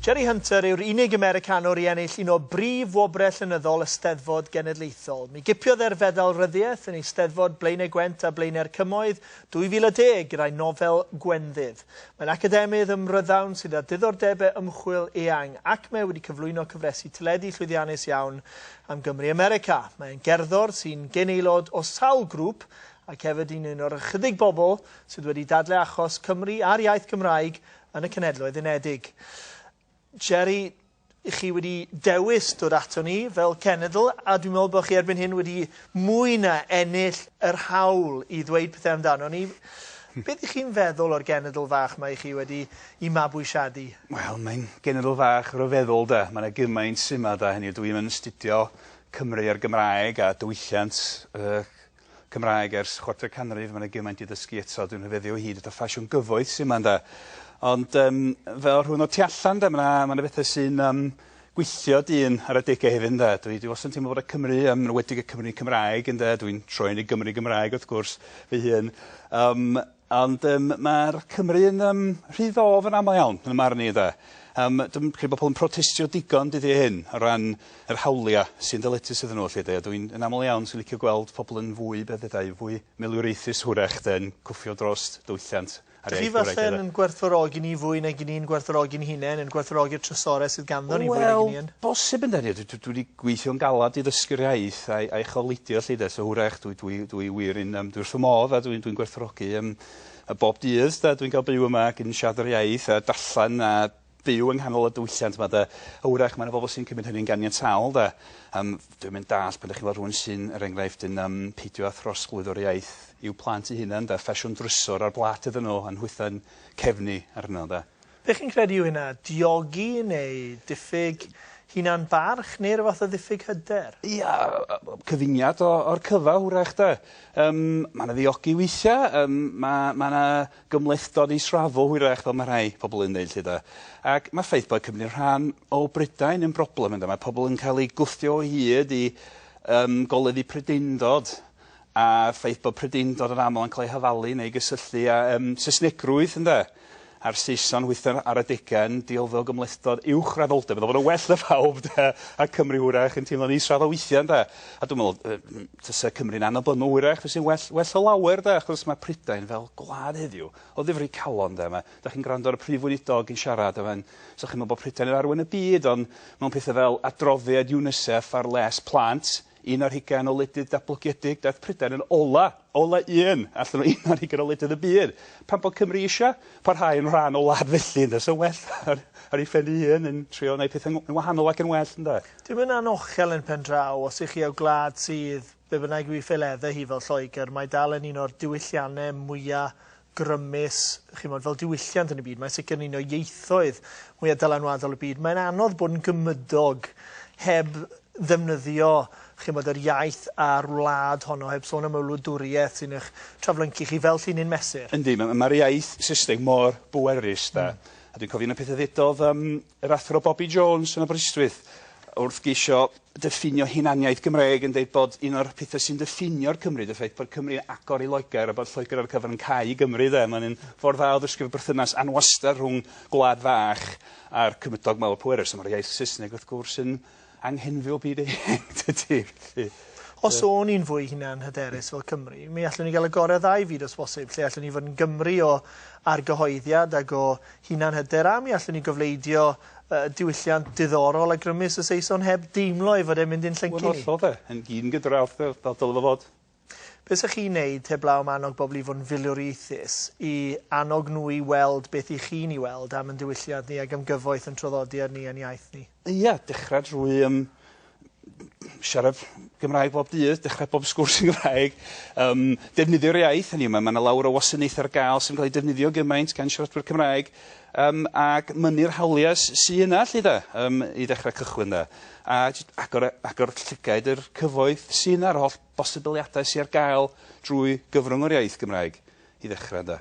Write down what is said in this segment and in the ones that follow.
Jerry Hunter yw'r unig Americanwr i ennill un o brif wobrau llenyddol y Steddfod Genedlaethol. Mi gipiodd e'r Fedal Ryddiaith yn Eisteddfod Blaenau Gwent a Blaenau'r Cymoedd 2010 gyda'i nofel Gwenddydd. Mae'n academydd ym Mhrydawn sydd â diddordebau ymchwil eang ac mae wedi cyflwyno cyfresi teledu llwyddiannus iawn am Gymru America. Mae e'n gerddor sy'n gyn-aelod o sawl grŵp ac hefyd yn un o'r ychydig bobl sydd wedi dadlau achos Cymru a'r iaith Gymraeg yn y Cenhedloedd Unedig. Jerry, chi wedi dewis dod ato ni fel cenedl, a dwi'n meddwl bod chi erbyn hyn wedi mwy na ennill yr hawl i ddweud pethau amdano ni. Beth ych chi'n feddwl o'r genedl fach mae chi wedi i mabwysiadu? Wel, mae'n genedl fach ryfeddol da. Mae yna gymaint syma da hynny. Dwi yn astudio Cymru a'r Gymraeg a diwylliant y Cymraeg ers chwarter canrif, mae 'na gymaint i ddysgu eto, dwi'n rhyfeddu o hyd at y ffasiwn gyfoeth sy' 'ma ynde. Ond yym fel rhywun o tu allan 'de ma' 'na ma' 'na bethe sy'n yym gweithio dyn ar adegau hefyd ynde? Dwi dwi wastad yn teimlo bod y Cymry yym yn enwedig y Cymry Cymraeg ynde dwi'n troi yn y Gymry Gymraeg wrth gwrs fy hun yym Ond yym ma'r Cymry yn yym rhy ddof yn amal iawn yn 'y marn i 'de. Yym dwi'm credu bo' pobol yn protestio digon dyddie hyn o ran yr hawlia' sy'n ddeletus iddyn n'w 'elly 'de a dw i'n yn amal iawn sy'n licio gweld pobol yn fwy be' feddai fwy milwriaethus hwrach 'de yn cwffio drost dwylliant a'r iaith Gymraeg 'de. Dych chi falle'n gwerthfawrogi ni fwy nag 'yn ni'n gwerthfawrogi'n hunen yn gwerthfawrogi'r trysore sydd ganddo ni fwy nag 'yn ni yn... Wel bosib ynde dwi dwi dwi 'di gweithio'n galad i ddysgu'r iaith a'i a'i chofleidio 'lly 'de. So hwrach dwi dwi dwi wir yn yym dwi wrth fy modd a dwi'n dwi'n gwerthfawrogi yym y bob dydd 'de dwi'n ga'l byw yma ag yn siarad yr iaith a darllen a byw yng nghanol y diwylliant 'ma 'de. A hwrach ma' 'na bobol sy'n cymryd hynny'n ganiataol 'de. Yym dwi'm yn dall' pan 'dach chi'n weld rhywun sy'n er enghraifft yn yym peidio â throsglwyddo'r iaith i'w plant 'u hunan 'de, ffasiwn drysor ar blât iddyn nhw a'n nhwytho'n cefn ni arno 'de. Dych chi'n credu yw hynna diogi neu diffyg hunan barch neu rywfath o ddiffyg hyder? Ia cyfuniad o o'r cyfa wrach 'de? Yym ma' 'na ddiogi weithia yym ma' ma' 'na gymhlethdod israddol hwyrach fel ma' rhai pobol yn ddeud 'lly 'de? Ac ma'r ffaith bod Cymru'n rhan o Brydain yn broblem ynde? Mae pobol yn ca'l 'u gwthio o hyd i yym goleddu Prydendod a ffaith bod prydeiindod yn aml yn cael ei hafalu neu gysylltu â yym Saesnegrwydd ynde? A'r Saeson hwythau ar adegau yn deilfio o gymhlethdod uwchraddoldeb, meddwl bod o'n well 'na phawb de, a Cymru hwyrach yn teimlo'n israddol weithiau ynde? A dwi'n meddwl yy m- tase Cymru'n annibynnol hwyrach fyse'n well well o lawer de, achos mae Prydain fel gwlad heddiw o ddifri calon ynde, mae... dach chi'n gwrando ar y Prif Weinidog yn siarad a mae'n... so chi'n meddwl bod Prydain yn arwen y byd ond mewn pethau fel adroddiad UNICEF ar les plant, Un ar hugain o wledydd datblygiedig, daeth Prydain yn ola, ola un allan o un ar hugain o wledydd y byd. Pam bod Cymru eisiau parhau yn rhan o wlad felly ynde? So well ar ar ei phen ei hun yn trio wneud pethau yn wahanol ac yn well ynde? Dim yn anochel yn pen draw, os ych chi o gwlad sydd, be bynnag yw ei pheledde hi fel Lloegr, mae dal yn un o'r diwyllianne mwya grymus, chimod, fel diwylliant yn y byd. Mae'n sicr yn un o ieithoedd mwyaf dylanwadol y byd. Mae'n anodd bod yn gymydog heb ddefnyddio chimod, yr iaith a'r wlad honno, heb sôn am y wladwriaeth sy'n eich traflyncu chi fel llinyn mesur. Yndi, mae'r iaith Saesneg mor bwerus, 'de. A dwi'n cofio un o'r pethau ddudodd yym Yr Athro Bobi Jones yn Aberystwyth, wrth geisio diffinio hunaniaeth Gymreig, yn deud bod un o'r pethau sy'n diffinio'r Cymry, ydy'r ffaith bod Cymru yn agor i Loegr a bod Lloegr ar y cyfan yn cau i Gymru de. Mae'n un ffordd dda o ddysgu fod berthynas anwastad rhwng gwlad fach a'r cymydog mawr pwerus. A mae'r iaith Saesneg, wrth gwrs, yn anghenfil byd eang tydi? Felly... Os o'n ni'n fwy hunan-hyderus fel Cymru, mi allwn ni gael y gorau o ddau fyd os bosib, lle allwn ni fod yn Gymru o argyhoeddiad ac o hunan-hyder, a mi allwn ni gofleidio y diwylliant diddorol a grymus y Saeson heb deimlo ei fod e'n mynd i'n llyncu ni. Wel, yn hollol 'de. Yn gyn-gydradd, fel dylai fo fod. Be sa chi'n neud heblaw am annog bobl i fod yn filiwriaethus, i annog nhw i weld beth i chi'n i weld am yn diwylliant ni ac am gyfoeth yn traddodiad ni a'n iaith ni? Ia, dechra drwy yym siarad Gymraeg bob dydd, dechra bob sgwrs yn Gymraeg, yym defnyddio'r iaith, hynny yw ma' ma' 'na lawer o wasanaethe ar ga'l sydd yn ca'l 'u defnyddio gymaint gan siaradwyr Cymraeg, Yym ac mynnu'r hawliau s- sy yna 'lly 'de? Yym i ddechrau cychwyn 'de? A jyst agor a- agor llygaid i'r cyfoeth sy yna, yr holl bosibiliadau sy ar gael drwy gyfrwng o'r iaith Gymraeg i ddechrau ynde?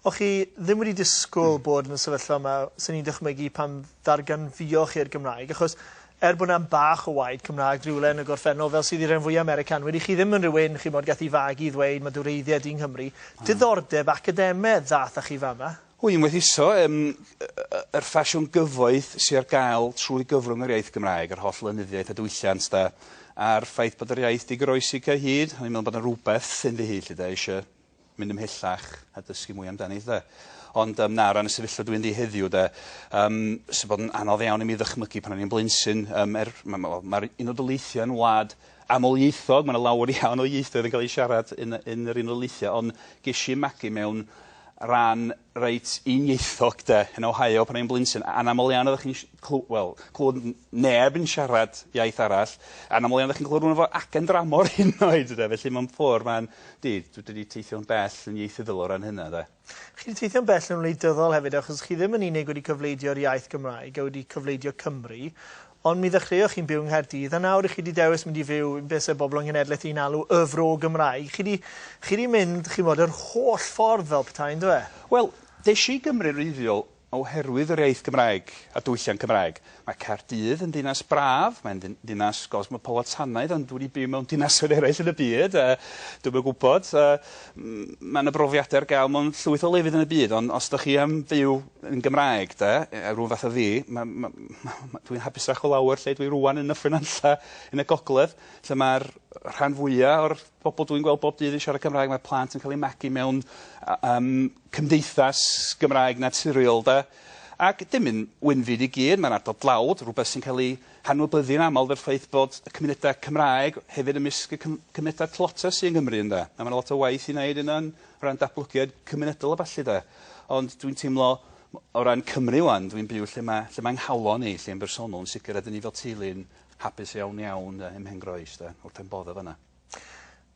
O' chi ddim wedi disgwl bod yn y sefyllfa 'ma, swn i'n dychmygu, pan ddarganfuoch chi'r Gymraeg, achos er bod 'na bach o waed Cymraeg rywle yn y gorffennol, fel sydd i ren fwya' Americanwyr, 'ych chi ddim yn rywun, chimod, gath 'i fagu i ddweud, 'ma dy wreiddiau di yng Nghymru'. Diddordeb academedd ddath â chi fama. Hwy yn gwerthuso yym yr ffasiwn gyfoeth sy ar gael trwy gyfrwng yr iaith Gymraeg, yr holl lenyddiaeth a diwylliant de, a'r ffaith bod yr iaith 'di goroesi cyhyd, o'n i'n meddwl bod 'na rywbeth ynddihi 'lly de, eisio mynd ymhellach a dysgu mwy amdani 'lly de. Ond yym na, o ran y sefyllfa dwi ynddi heddiw de, yym sy'n bod yn anodd iawn i mi ddychmygu pan o'n i'n blentyn, yym er, ma' ma' wel, ma'r Unol Daleithiau yn wlad amlieithog, mae 'na lawer iawn o ieithoedd yn cael eu siarad yn y yn yr Unol Daleithiau, ond ges i 'y magu mewn rhan reit uniaethog 'de, yn Ohio pan o'n i'n blentyn, a- anaml iawn oeddach chi'n si- clw- wel, clwed n- neb yn siarad iaith arall, anaml iawn oeddach chi'n clwed rywun efo acen dramor hyd yn oed ynde, felly mewn ffor' ma'n, 'di, dwi 'di teithio'n bell yn ieithyddol o ran hynna 'de. Chi wedi teithio'n bell yn wleidyddol hefyd achos chi ddim yn unig wedi cyfleidio'r iaith Gymraeg a wedi cyfleidio Cymru ond mi ddechreuoch chi'n byw yng Nghaerdydd a nawr chi wedi dewis mynd i fyw be se bobl yng Nghenedlaeth i'n alw Y Fro Gymraeg. Chi wedi chi wedi mynd chi'n bod yr holl ffordd fel petai yndyfe? Wel, des i i Gymru wreiddiol Oherwydd yr iaith Gymraeg a diwylliant Cymraeg. Mae Caerdydd yn ddinas braf, mae'n ddinas gosmopolitanaidd ond dwi wedi byw mewn dinasoedd eraill yn y byd a dwi'm yn gwybod. Mae 'na brofiadau ar gael mewn llwyth o lefydd yn y byd ond os dych chi am fyw yn Gymraeg de, rhywun fath o fi, dwi'n hapusach o lawer lle dwi rŵan yn Nyffryn Nantlle yn y gogledd lle mae'r rhan fwya' o'r Pobl dwi'n gweld bob dydd yn siarad Cymraeg, mae plant yn cael eu magu mewn yym cymdeithas Gymraeg naturiol 'de. Ac dim yn win fi i gyd, mae'n ardal dlawd, rhywbeth sy'n cael ei hanwybyddu yn aml 'da'r ffaith bod y cymunedau Cymraeg hefyd ymysg y cym- cymunedau tlotsa sy yng Nghymru ynde. A mae 'na lot o waith i wneud yna yn o ran datblygiad cymunedol a ballu 'de. Ond dwi'n teimlo m- o ran Cymru 'wan, dwi'n byw lle mae lle mae 'nghalon i, lle yn bersonol yn sicr, a 'dyn ni fel teulu yn Hapus iawn iawn 'de ym Mhengroes 'de wrth pen bodd o fana.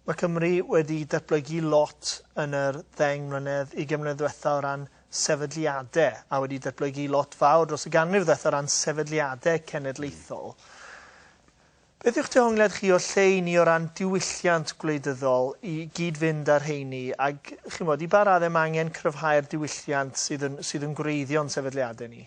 Mae Cymru wedi datblygu lot yn yr ddeng mlynedd, ugain mlynedd ddwetha o ran sefydliade, a wedi datblygu lot fawr dros y ganrif ddwetha o ran sefydliade cenedlaethol. Beth yw'ch dehongliad chi o lle i ni o ran diwylliant gwleidyddol i gyd-fynd â'r rheini, ag chi'n bod, i ba radde mae angen cryfhau'r diwylliant sydd yn sydd yn gwreiddio'n sefydliade ni?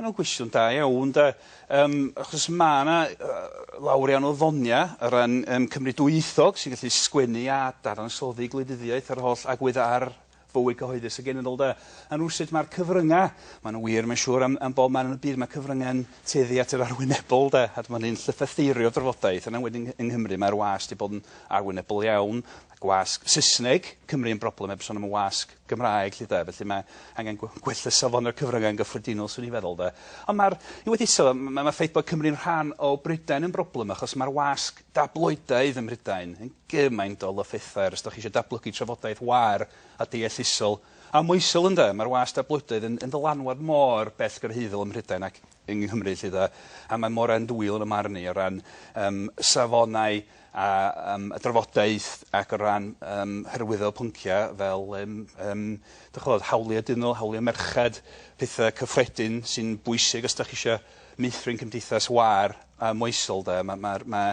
Ma' wnna'n gwestiwn da iawn 'de yym achos ma' 'na yy lawer iawn o ddonia o ran yym Cymry dwyieithog sy'n gallu sgwennu a dadansoddi gwleidyddiaeth a'r holl agwedd ar fywyd cyhoeddus y genedl 'de? A rywsut ma'r cyfrynga' ma' n'w wir mae'n siŵr am am bob man yn y byd ma' cyfrynga'n tueddu at yr arwynebol 'de a dyma ni'n llythytheirio drafodaeth yn enwedig yng yng Nghymru mae'r wasg 'di bod yn arwynebol iawn a gwasg Saesneg Cymru yn broblem heb son am y wasg Gymraeg 'lly 'de, felly mae angen gwe- gwella safon y cyfryngau yn gyffredinol swn i'n feddwl 'de. Ond ma'r i weddillo fo m- ma' ma'r ffaith bod Cymru'n rhan o Brydain yn broblem achos ma'r wasg dabloidaidd ym Mhrydain yn gymaint o lyffethair os 'dach chi isio datblygu trafodaeth waer a deallusol a moesol ynde? Ma'r wasg dabloidaidd yn yn ddylanwad mor bellgyrhaeddol ym Mhrydain ac yng Nghymru 'lly 'de a mae mor andwyol yn 'y marn i o ran yym safonau a yym y drafodaeth ac o ran yym hyrwyddo pyncia' fel yym yym dych ch'mod hawlia' dynol, hawlia' merched, pethe cyffredin sy'n bwysig os 'dach chi isio meithrin cymdeithas wâr a moesol 'de ma' ma'r ma'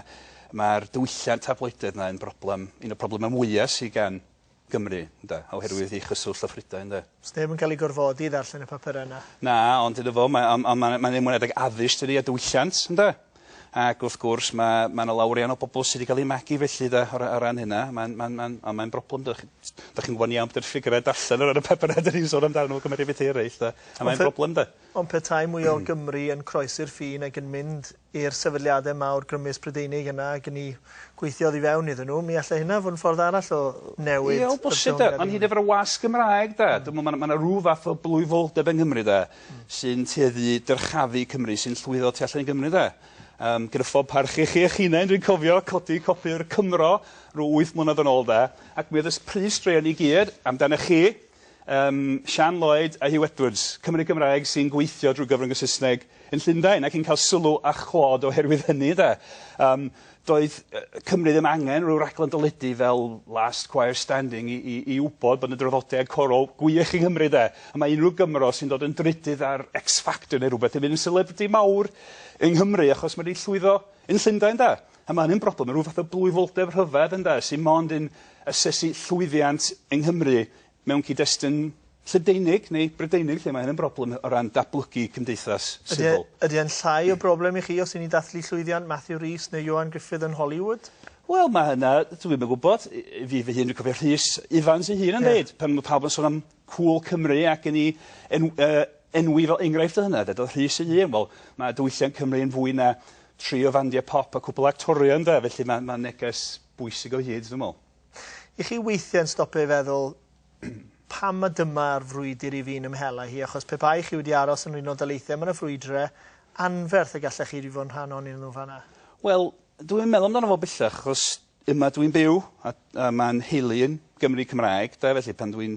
ma'r diwylliant tabloidedd 'na yn broblem un o problema mwya sy gan Gymru, ynde, oherwydd ei chyswllt â Phrydain, ynde. Does neb yn cael ei gorfodi i ddarllen y papurau yna. Na, ond iddo fo, mae, ond, ond mae'n mae ymwneud ag addysg, dydy, a diwylliant, ynde. Ac wrth gwrs, mae, mae yna lawer iawn o bobl sydd wedi cael eu magu felly, de, o, o ran hynna. Mae'n, mae'n, mae'n, ond mae'n broblem, dych da chi'n gwybod iawn bod yr ffigurau darllen o ran y papurau dyn ni'n sôn amdano nhw, cymeriad beth eraill, de. A mae'n broblem, de. Ond petai mwy o Gymry yn croesi'r ffin ac yn mynd i'r sefydliadau mawr grymus Prydeinig yna ag yn i gweithio oddi fewn iddyn nhw, mi allai hynna fod yn ffordd arall o newid... Ie, o bosib 'de. Ond hyd efo y wasg Gymraeg 'de, dwi'n meddwl ma' 'na rw fath o blwyfoldeb yng Nghymru 'de, sy'n tueddu i dyrchafu Cymru, sy'n llwyddo tu allan i Gymru 'de. Yym, gyda phob parch i chi eich hunain, dwi'n cofio codi copi o'r Cymro rw wyth mlynedd yn ôl 'de, ac mi oedd y pris straeon i gyd amdanoch chi, Ym Siân Lloyd a Huw Edwards, Cymry Cymraeg sy'n gweithio drwy gyfrwng y Saesneg yn Llundain ac yn cael sylw a chlod oherwydd hynny ynde. Yym doedd Cymru ddim angen rhyw raglen deledu fel Last Choir Standing i i i wybod bod 'na draddodiad corol gwych yng Nghymru de. A mae unrhyw Gymro sy'n dod yn drydydd ar X Factor neu rhywbeth yn mynd yn celebrity mawr yng Nghymru achos ma' 'di llwyddo yn Llundain de. A ma' hynny'n broblem, ma' rhyw fath o blwyfoldeb rhyfedd ynde, sy mond yn asesu llwyddiant yng Nghymru mewn cyd-destun Lledeinig neu Brydeinig lle ma' hyn yn broblem o ran datblygu cymdeithas sifil. Ydy e'n llai o broblem i chi os y'n ni'n dathlu llwyddiant Matthew Rhys neu Ioan Gruffudd yn Hollywood? Wel ma' hynna dwi'm yn gwybod. Fi fy hun dwi'n cofio Rhys Ifans ei hun yn deud pan ma' pawb yn son am Cŵl Cymru ac yn ei en- yy enwi fel enghraifft o hynna 'de. Doedd Rhys ei hun, wel, mae diwylliant Cymru yn fwy na tri o fandiau pop a cwpwl o actorion 'de, felly mae mae'n neges bwysig o hyd, dwi'n me'wl. I chi weithie yn stopio i feddwl pam ma' dyma'r frwydr i fi'n ymhel â hi, achos pe bai chi wedi aros yn yr Unol Daleithiau ma' 'na frwydre anferth y gallech chi 'di fod yn rhan onyn nhw fan 'na. Wel, dwi'm yn meddwl amdano fo bellach, achos Yma dwi'n byw a a ma' 'yn nheulu yn Gymry Cymraeg 'de felly pan dwi'n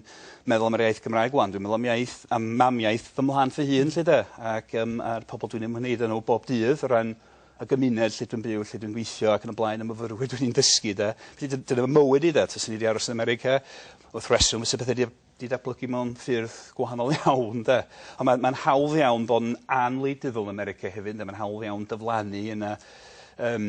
meddwl am yr iaith Gymraeg ŵan dwi'n meddwl am iaith am mamiaith fy mhlant fy hun 'lly 'de ac yym a'r pobol dwi'n ymwneud â n'w bob dydd o ran y gymuned lle dwi'n byw lle dwi'n gweithio ac yn y blaen y myfyrwyr dwi'n 'u dysgu 'de. Felly dy- dyna fy mywyd i 'de taswn i 'di aros yn America wrth reswm fysa pethe 'di di datblygu mewn ffyrdd gwahanol iawn 'de. On' ma' ma'n hawdd iawn bod yn anwleidyddol yn America hefyd ynde ma'n hawdd iawn dyflannu yna yym